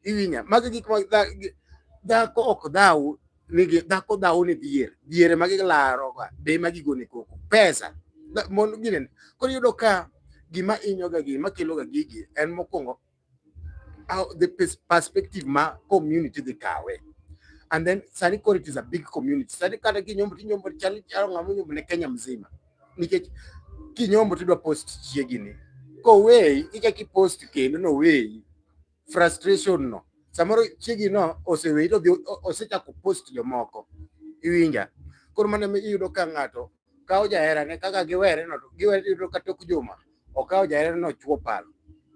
Iwinja? Magi gik ma dhako ok dhaw nigi dhako dhaw ni dhier, dhier ma gilaro ga be ma gigone koko pesa mondo ginen. Koro yudo ka gima inyoga gi makelo ga gigi en mokwongo how the perspective ma community dhi kawe and then sani koro it is a big community sani kata kinyombo tinyombo chal chal ng'ama nyombo ne Kenya mzima nikech kinyombo tidwa post chiegini koweyi ichaki post kendo noweyi frustration no samoro chiegi no oseweyi to osechako post jomoko iwinja koro mano iyudo ka ng'ato kawo jaherane kaka giwereno to giwere yudo ka tok juma okawo jaherane no chuo palo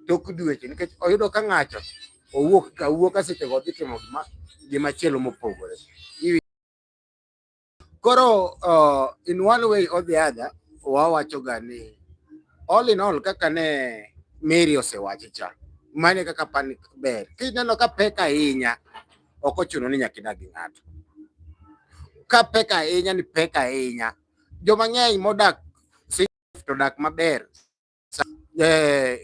tok dweche nikech oyudo ka ng'ato owuok ka wuok ka seche go dhi timo gima gima chielo mopogore koro uh, in one way or the other wawacho ga ni all in all kaka ne Mary osewacho cha mane kaka pan ber kineno ka pek ahinya ok ochuno ni nyaka idag gi ng'ato. Ka pek ahinya ni pek ahinya, joma ng'eny modak to dak maber. Eh,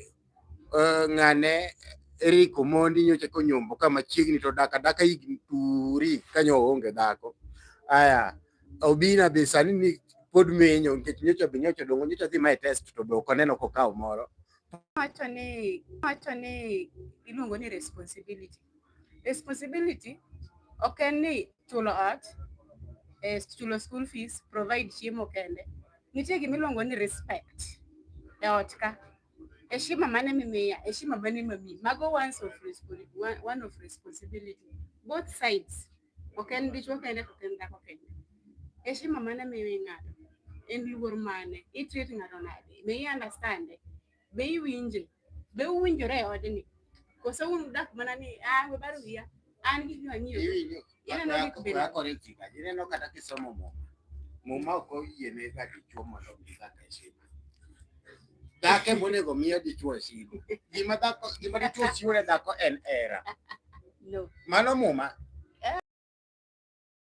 eh, ng'ane Eric Omondi nyocha konyombo ka machiegni to dak adaka higni turi ka nyo oonge dhako. Aya, Obina be sani ni pod menyo nikech nyocha be nyocha odongo nyocha dhi ma e test to be ok oneno kokawo moro. Wacho ni wacho ni iluongo ni responsibility. Responsibility ok en ni chulo ot, eh, chulo school fees, provide chiemo kende. Nitie gima iluongo ni respect e ot ka. Heshima mane mimiya, heshima mane mami. Mago ones of responsibility, one of responsibility. Both sides. Ok en dichuo kende, ok en dhako kende. Heshima mane miyo ng'ato, en luor mane, i treat ng'ato nade, may i understand Be iwinje? Be uwinjore e odni? Koso un udak mana ni ah we baro wiya. An gi gima ng'iyo. Iwinjo. Ineno gik bende. Rakore chika. Ineno kata kisomo muma. Muma ok oyiene ga dichwo mondo omi kaka heshima. Dhako ema onego omi dichwo heshima. Gima dhako gima dichwo chiwo ne dhako en hera. No. Mano muma.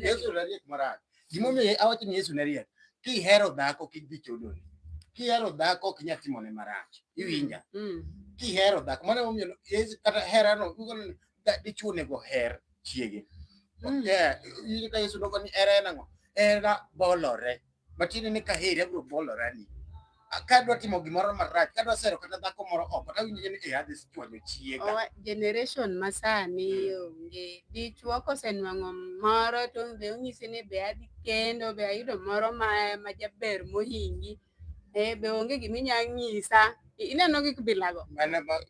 Yesu nariek marach. Gimomiyo awacho ni Yesu nariek, kihero dhako kik dhi chodoni. Kihero dhako ok inyal timone marach. Iwinja? Mm. Kihero dhako mano emomiyo Yesu kata herano ugo ni da- dichwo onego oher chiege. Mm. Yeah, Yesu nogo ni hera en ang'o? Hera bolore. matiende ni kaheri abiro bolora ni kadwa timo gimoro marach kadwa sero kata dhako moro oko tawinjo ni e adhi chwanyo chiega generation masani onge dichwo kosenwang'o moro to be onyisi ni be adhi kendo be ayudo moro ma, ma jaber mohingi e be onge giminya nyisa ineno gik bilago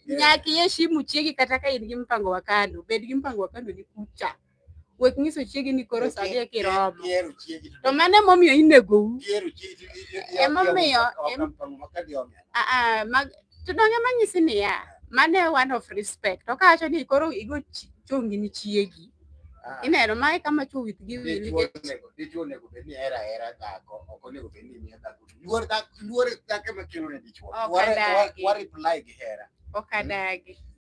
nyaka iheshimu chiegi kata ka in gi mpango wa kando bed gi mpango wa kando ni kucha wek nyiso chiegi ni koro sa dhi kiromo to mano emomiyo inegou emomiyo to donge manyisi niya mano e one of respect okawacho ni koro igo chongi ni chiegi Ah. ineno mae kama chuo with gi wili dichuo onego bed ni hera hera dhako ok onego bed ni miya dhako luor dhako luor dhako ema kelo ne dichuo wa reply gi hera ok adagi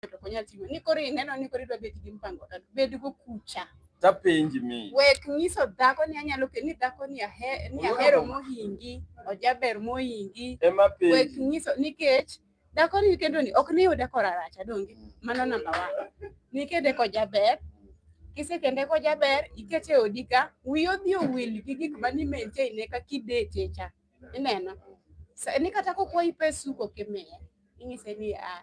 to ok onyal ting'o ni koro ineno ni koro idwa bet gi mpango kata bed go kucha tapenji mi wek nyiso dhako ni anyalo ke ni dhako ni ahe ni ahero mohingi ojaber mohingi ema wek penji nyiso nikech dhako ni kendo ni ok ni yude koraracha donge mano namba wa nikede kojaber kisekende kojaber ikete e odi ka wiyi odhi owil gi gik mani maintain ne kaka idete cha ineno Sa- ni kata kokwayi pes suko kimiye inyise ni a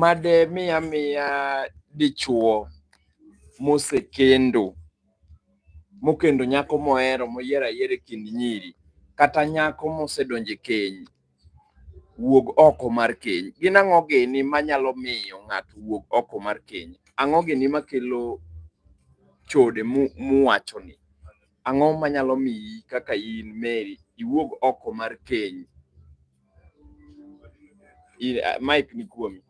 made miya miya dichuo mosekendo mokendo nyako mohero moyiero ayiera e kind nyiri kata nyako mosedonje keny wuog oko mar keny. Gin ang'o gini manyalo miyo ng'ato wuog oko mar keny? Ang'o gini makelo chode muwachoni? Ang'o manyalo miyi kaka in Mary iwuog oko mar keny? Ile uh, mic ni kuomi.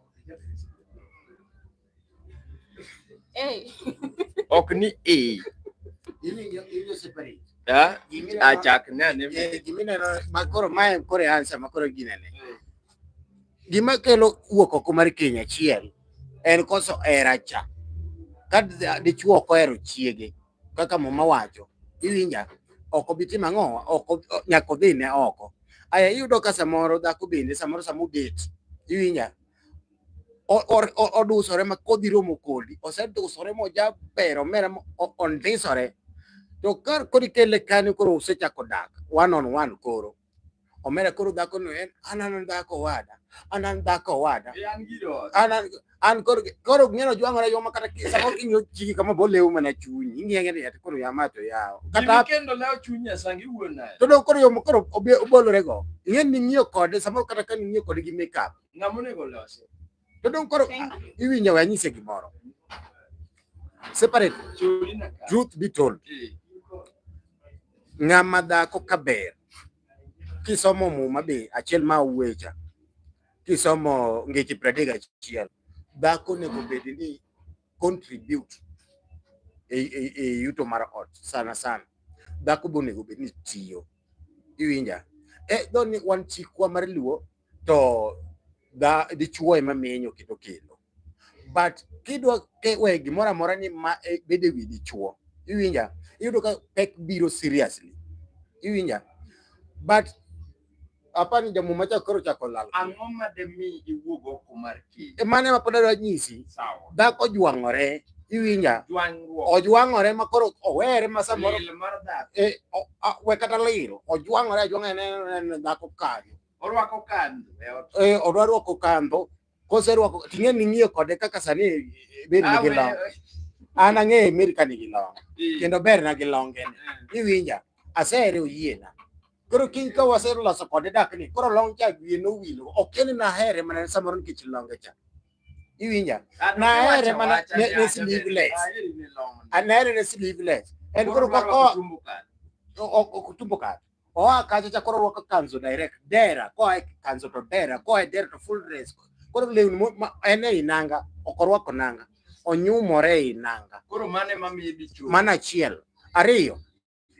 Hey. ok ni e. Ah, achak nane. Eh, Gimineno makoro mae kore ansa makoro ginene. Hmm. Gima kelo wuok oko mar keny achiel en koso hera cha. Ka dichwo ok ohero chiege kaka muma wacho iwinja ok obi timo ang'o ok nyaka odhi ne oko aya iyudo ka samoro dhako bende samoro sama obet iwinja odusore ma kodhi romo kodi osedusore mojaber omera ondisore to kar koro ikele kanyo koro usechako dak one on one koro omera koro dhako no en an an dhako wada an an dhako wada an an koro koro ng'eno jwang'ore yo makata kisa koro ing'yo chiki kama bo lewu mana chunyi ing'yo ng'e yati koro yama to yawo kata kendo lewo chunyi asangi e wuon nayo to do koro yo koro obolore go ing'e ni ng'iyo kode samoro kata ka ng'iyo kode gi makeup ng'amonego lose To dong koro ah, iwinjo we anyise gimoro. Separate. Truth be told. Ng'ama dhako kaber. Kisomo muma be achiel ma uwecha. Kisomo ngeche pradega achiel. Dhako nego bed ni contribute e, e, e yuto mar ot sana sana. Dhako bonego bed ni tiyo. Iwinja? Eh, doni wan chikwa mar luo to da dichuo ema menyo kendo kelo but kidwa we gimoro amora ni ma e, bede wi dichuo iwinja iyudo ka pek biro seriously iwinja but apani ni jamu macha koro chako lal ang'o ma de mi iwuog oko mar kich e, mane ma pod adwa nyisi dhako jwang'ore iwinja ojwang'ore ma koro owere ma samoro e, we kata liro ojwang'ore ajwang'a ne dhako kanyo Orwako kandho e ot. Eh, odwa rwako kandho. Koserwako ting'e ni ng'iyo kode kaka sani eh, ber ni gi long. An ang'eyo Mary ka nigi long. Kendo ber na gi longe ni. Eh. Iwinja. Asehere oyiena. Koro kiny ka waseloso kode dak ni koro long cha wiye nowilo. Ok en na here mana samoro nikech longe cha. Iwinja. Nahere mana ne, ne sleeveless. Anahere ne sleeveless. En koro ka ko kutumbo kare. oa kacha cha koro rwako kanzo direct dera koa e kanzo to dera koa e dera to full dress koro lewni en e inanga ok orwako nanga onyumore e inanga koro mane mamiye dichuo mana achiel ariyo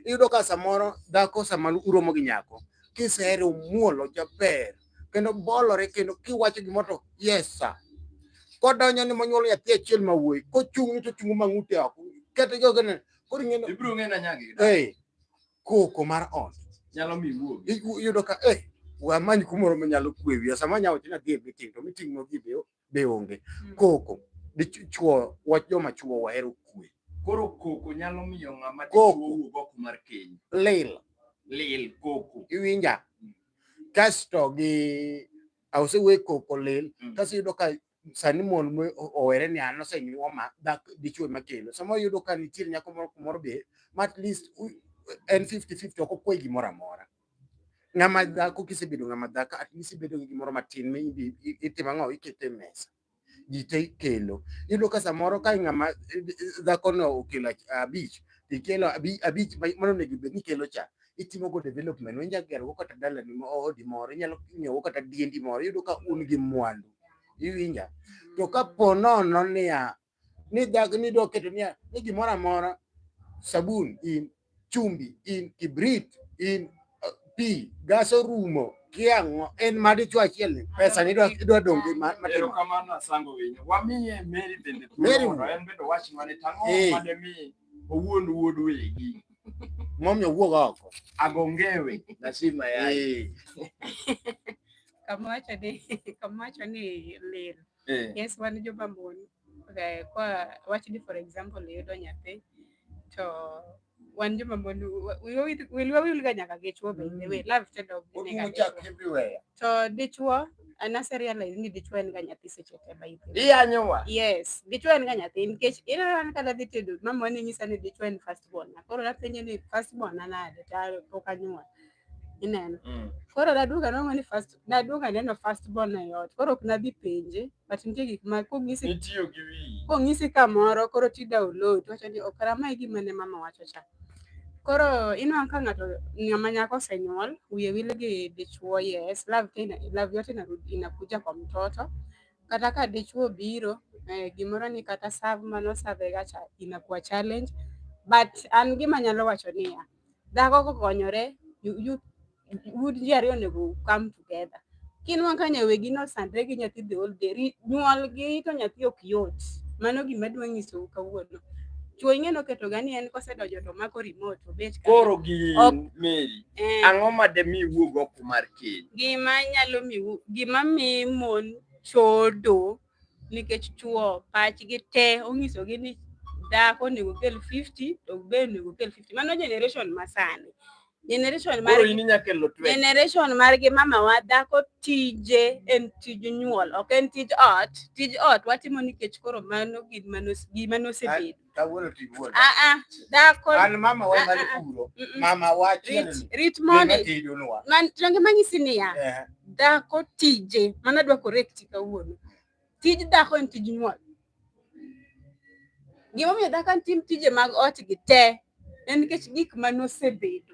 iyudo ka samoro dhako sama uromo gi nyako kisehere omuolo jaber kendo bolore kendo kiwacho gimoro to yes sir kodonjo ni monyuolo nyathi achiel ma wuoyi kochung' ni to chungu mang'ute oko kete jogene koro ing'e ibiro ng'e na nyagi eh koko mar ot nyalo mi wuogi iyudo ka eh wamany kumoro manyalo kwe wiya sama nya wacho ni adhi e meeting to meeting no gi be onge hmm. koko dichuo wach joma chuo wahero kwe koro koko nyalo miyo ng'ama dichuo wuog oko mar keny lil lil koko iwinja hmm. kasto gi ausewe koko lil hmm. kasto iyudo ka sani mon owere ni an osenyuoma dichwe makendo. Sama yudo ka nitie nyako moro kumoro be ma at least en 50 50 ok okwe gimoro amora. Ng'ama dhako kisebedo ng'ama dhako at least ibedo gi gimoro matin mi itimo ang'o ikete mesa. Ji te ikelo. Iyudo ka samoro ka ng'ama eh, eh, dhakono okelo abich ikelo abich mano onego bed ni ikelo cha itimo go development inyalo gero go kata dalani ma odi moro inyalo nyiewo go kata diendi moro iyudo ka un gi mwandu iwinja to ka po nono niya ni dag ni dwa keto niya ni gimoro amora sabun in chumbi in kibrit in uh, pi gas orumo kiang'o en ma dichwo achiel ni pesa ni idwa idwa dong' gi ma- matimo Erokamano asango winyo. Wamiye Mary bende Mary. thuolo mondo en bende owach mane tang'o Eh. mademi owuond wuod wegi momiyo wuog oko agongewe nasima yaye kamawacho ni kamawacho ni lil eh. yes wan joma mon eh, kwa wacho ni for example iyudo nyathi to wan joma mon wilwa wilga nyaka gi chwo bende we mm. love tendo everywhere To dichwo an ase realize ni dichwo en ga nyathi seche te by the way. Iyanyowa. Yes, dichwo en ga nyathi nikech ineno an kata dhi tedo mama ne nyisa ni dichwo en first born. Koro napenje ni first born an ade to pok anyuol. Ineno. Mm. Koro naduoga nongo ni first naduoga neno first born e ot. Koro ok nadhi penje. but nitie gik ma kong'isi itiyo gi wiyi kong'isi kamoro koro ti download wacho ni ok ramae gima ne mama wacho cha koro inwang' ka ng'ato ng'ama nyako osenyuol wiye wil gi dichuo yes love tena love yote inarudi inakuja kwa mtoto kata ka dichuo biro eh, gimoro ni kata serve mano serve ga cha inakuwa challenge but an gima nyalo wacho niya dhako kokonyore you, you, would ji ariyo onego come together kinwa ka nyawegi nosandre gi nyathi the whole day nyuolgi to nyathi ok yot mano gima dwa nyisou kawuono chuo ing'e noketo ga ni en kosedonjo to mako remote obet koro gi meri eh. ang'o ma de mi wuog oko mar keny gima nyalo mi gima mi mon chodo nikech chuo pachgi te onyisogi ni dhako onego kel 50 to be onego kel 50 mano generation masani generation mar generation margi mamawa dhako tije en tij nyuol ok en tij ot tij ot watimo nikech koro mano gima nosebedo Kawuono to iwuon. Ah ah, dhako. An mama wa mali puro. Mama wa chiel. Rit moni. Man range manyisi niya. Eh. Dhako tije, mana dwa correct kawuono. Tij dhako en tij nyuol. Gimomiyo dhako en tim tije mag ot gi te en nikech gik ma nosebedo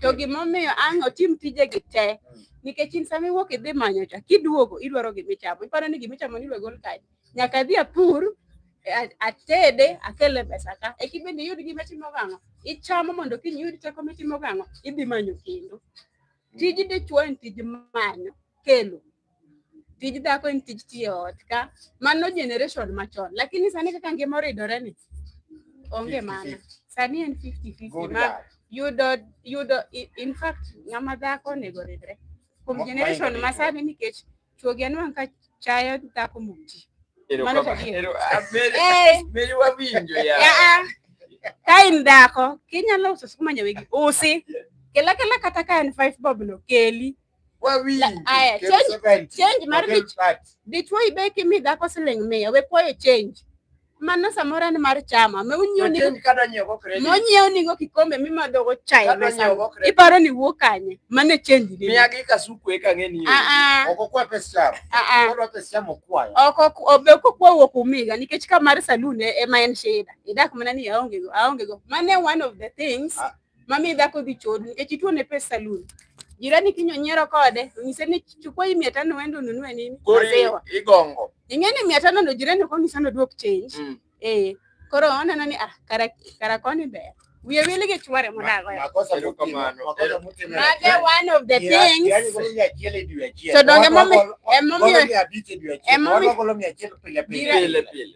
To gimomiyo ang' otim tijegi te mm. nikech in sama iwuok idhi manyo cha kiduogo idwaro gimichamo iparo ni gimichamo ni gol kae nyaka adhi apur atede akele pesa ka eki bende iyud gima timo gang'o ichamo mondo kiny iyud teko mitimo gang'o idhi manyo kendo tij dichwo en tij manyo kelo tij dhako en tij tiyo ot ka mano generation machon lakini sani kaka ngima oridore ni onge mana sani en 50-50 ma yudo yudo in fact ng'ama dhako onego oridre kuom generation ma sani nikech chuogi anwang' ka chayo dhako mok ji mano to ka in dhako kinyalo uso skuma nyawegi usi kela kela kata ka en five bob no keli Aya, change, change mar dichwo ibe kimi dhako siling mia we kwayo change mano samoro en mar chama monyiew nigo kikombe mimadhogo chai iparo ni wuok kanye mane change e ah, ah. ah, obe kokwa wuok umiga nikech ka mar salun e, ema en shida idak mana ni aongego aongego mane one of the things Mami dhako dhi chodu nikech ituone pesa salun. Jirani kinyo nyiero kode, onyise ni chukua hii mia tano uende ununue nini? Kori igongo. Ing'e ni mia tano ndo jirani ok onyisa ni oduok change. Mm. Eh, koro oneno ni ah, kara, kara koni ber. Wiye wili gi chwore modago. Makosa kamano. Mage one of the things. Yaani kolo mia achiel e dwe achiel. To donge momi emomiyo emomiyo kolo mia achiel pile pile. Pile pile.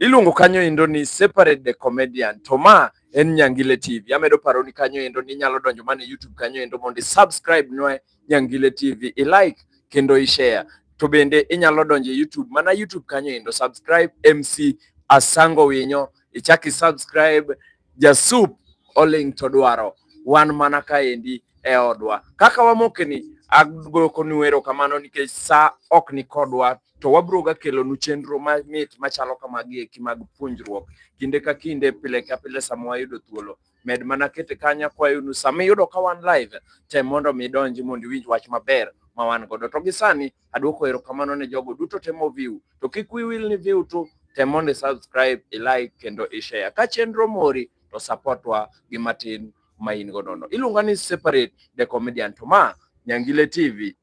Iluongo kanyo endo ni Separate the Comedian. To ma en Nyangile TV. Amedo paro ni kanyo endo ni nyalo donjo mana e YouTube kanyo endo mondo subscribe nwe Nyangile TV, i like kendo i share. To bende inyalo donjo e YouTube mana YouTube kanyo endo subscribe MC Asango Winyo, ichaki subscribe Jasup oling' to dwaro wan mana kaendi e odwa. Kaka wamokeni, agoyo konu erokamano nikech sa ok ni kodwa to wabiro ga kelonu chenro mamit machalo kamagi eki mag puonjruok kinde ka kinde, pile ka pile sama wayudo thuolo. Med mana kete kanyo akwayonu sama iyudo ka wan live, tem mondo mi idonji mondo iwinj wach maber ma wan godo. To gi sani Aduoko erokamano ne jogo duto temo view. To kik wi wil ni view tu, tem mondo i subscribe, i like kendo i share. Ka chenro mori to support wa gi matin ma in go nono. Iluonga ni separate the comedian to ma Nyangile TV.